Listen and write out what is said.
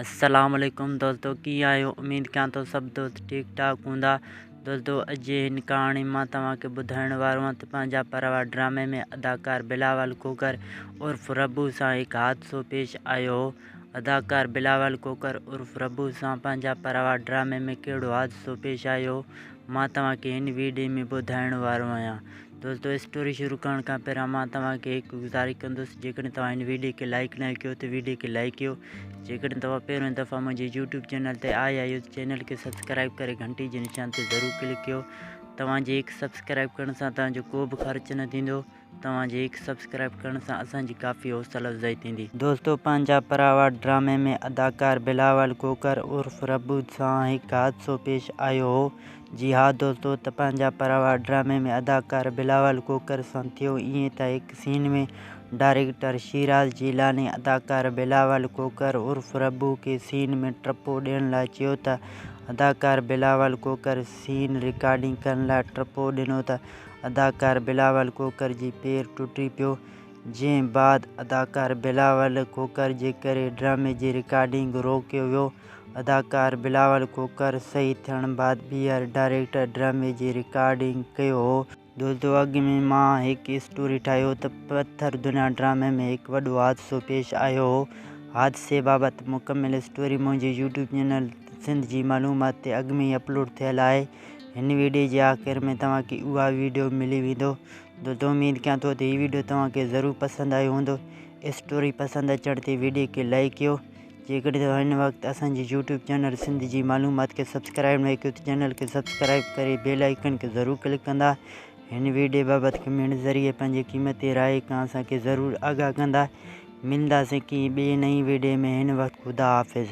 السلام عليڪم دوستو ڪيئن آهيو اميد ڪيان ٿو سڀ دوست ٺيڪ ٺاڪ هوندا دوستو اڄ جي هن ڪهاڻي مان توهان کي ٻڌائڻ وارو آهيان ته پنهنجا پروا ڊرامي ۾ اداڪار بلاول کوکر عرف ربو سان هڪ حادثو پيش آيو هو اداڪار بلاول کوکر عرف ربو سان پنهنجا پروا ڊرامي ۾ ڪهڙو حادثو پيش آيو هو مان توهان کي هن ويڊيو ۾ ٻڌائڻ وارو آهيان دوستو اسٽوري شروع ڪرڻ کان پهريان مان توهان کي هڪ گذارش ڪندس جيڪڏهن توهان هن ويڊيو کي لائڪ نه ڪيو ته ويڊيو کي لائڪ ڪيو جيڪڏهن توهان پهريون دفعا منهنجي يوٽيوب چينل تي آيا آهيو ته چينل کي سبسڪرائب ڪري گهنٽي جي نشان تي ضرور ڪلڪ ڪيو توهان جي هڪ سبسڪرائب ڪرڻ سان توهان جو ڪو به خرچ نه ٿيندو توهان جي هڪ سبسڪرائب ڪرڻ سان اسان جي ڪافي حوصلا افزائي ٿيندي دوستو پنهنجا پراوا ڊرامي ۾ اداڪار بلاول کوکر عرف ربو سان هڪ حادثو پيش آيو هو جي ها دوستو ته پنهنجا پراوا ڊرامي ۾ اداڪار بلاول کوکر سان ٿيو ائين ته هڪ سين ۾ ڊائريڪٽر شيراز جيلاني اداڪار بلاول کوکر عرف ربو کي سين ۾ ٽپو ڏيڻ لاء چيو ته اداڪار بلاول کوکر سين رڪارڊنگ ڪرڻ لاء ٽپو ڏنو ته اداڪار بلاول کوکر جي پير ٽٽي پيو جنهن بعد اداڪار بلاول کوکر جي ڪري ڊرامي جي رڪارڊنگ روڪيو ويو اداڪار بلاول کوکر شهيد ٿيڻ بعد بي آر ڊائريڪٽر ڊرامي جي رڪارڊنگ ڪيو هو. دوستو اڳ ۾ مان هڪ اسٽوري ٺاهي هو ته پٿر دنيا ڊرامي ۾ هڪ وڏو حادثو پيش آيو هو. حادثي بابت مڪمل اسٽوري منهنجي يوٽيوب چينل سنڌ جي معلومات تي اڳ ۾ ئي اپلوڊ ٿيل آهي. هن ويڊيو جي آخر ۾ توهان کي اها ويڊيو ملي ويندو. دوستو اميد ڪيان ٿو ته هي ويڊيو توهان کي ضرور پسند آيو هوندو. اسٽوري پسند اچڻ تي ويڊيو کي لائيڪ ڪيو. جيڪڏهن توهان هن وقت اسان جي يوٽيوب چينل سنڌ جي معلومات کي سبسڪرائيب ناهي ڪيو ته چينل کي سبسڪرائيب ڪري بيل آئيڪن کي ضرور ڪلڪ ڪندا هن ويڊيو بابت ڪمينٽ ذريعي پنهنجي قيمتي راء کان اسان کي ضرور آگاهه ڪندا ملنداسين ڪنهن ٻئي نئين ويڊيو ۾ هن وقت خدا حافظ.